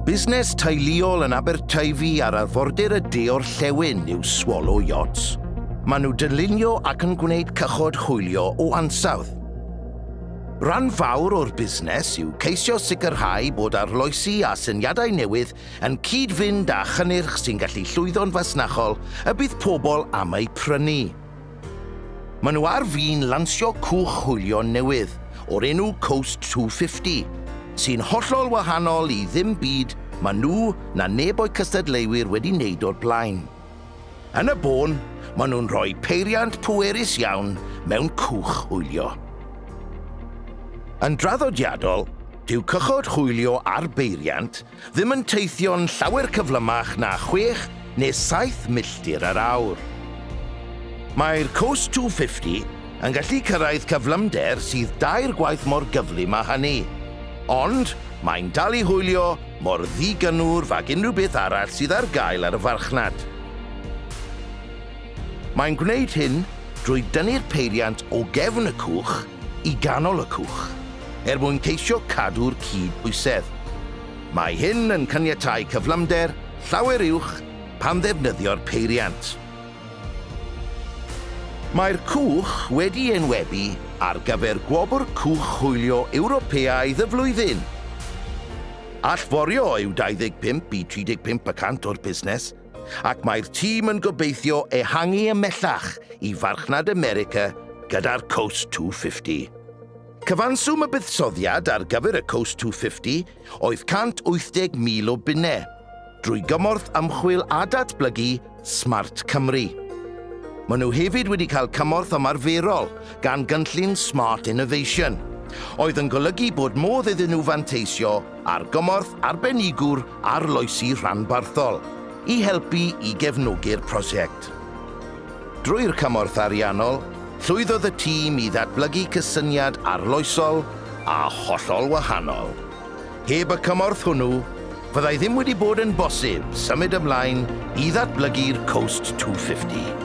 Busnes teuluol yn Aberteifi ar arfordir y de o'r llewn yw Swallow Yachts. Maen nhw dylunio ac yn gwneud cychod hwylio o ansawdd. Rhan fawr o'r busnes yw ceisio sicrhau bod arloesi a syniadau newydd yn cyd-fynd â chynnyrch sy'n gallu llwyddo'n fasnachol y bydd pobl am eu prynu. Maen nhw ar fin lansio cwch hwylio newydd o'r enw Coast 250, sy'n hollol wahanol i ddim byd ma' nhw na neb o'u cystadleuwyr wedi wneud o'r blaen. Yn y bôn, maen nhw'n rhoi peiriant pwerus iawn mewn cwch hwylio. Yn draddodiadol, dyw cychod hwylio ar beiriant ddim yn teithio'n llawer cyflymach na chwech neu saith milltir yr awr. Mae'r Coast 250 yn gallu cyrraedd cyflymder sydd dair gwaith mor gyflym â hynny, ond mae'n dal i hwylio mor ddi-gynnwrf ag unrhyw beth arall sydd ar gael ar y farchnad. Mae'n gwneud hyn drwy dynnu'r peiriant o gefn y cwch i ganol y cwch er mwyn ceisio cadw'r cyd-bwysedd. Mae hyn yn caniatáu cyflymder llawer uwch pan ddefnyddio'r peiriant. Mae'r cwch wedi enwebu ar gyfer Gwobr Cwch Hwylio Ewropeaidd y Flwyddyn. Allforio yw 25 i 35 y cant o'r busnes, ac mae'r tîm yn gobeithio ehangu ymellach i Farchnad America gyda'r Coast 250. Cyfanswm y buddsoddiad ar gyfer y Coast 250 oedd 180,000 o bunnau, drwy gymorth ymchwil a datblygu Smart Cymru. Maen nhw hefyd wedi cael cymorth ymarferol gan gynllun Smart Innovation, oedd yn golygu bod modd iddyn nhw fanteisio ar gymorth arbenigwr arloesi rhanbarthol i helpu i gefnogi'r prosiect. Drwy'r cymorth ariannol, llwyddodd y tîm i ddatblygu cysyniad arloesol a hollol wahanol. Heb y cymorth hwnnw, fyddai ddim wedi bod yn bosib symud ymlaen i ddatblygu'r Coast 250.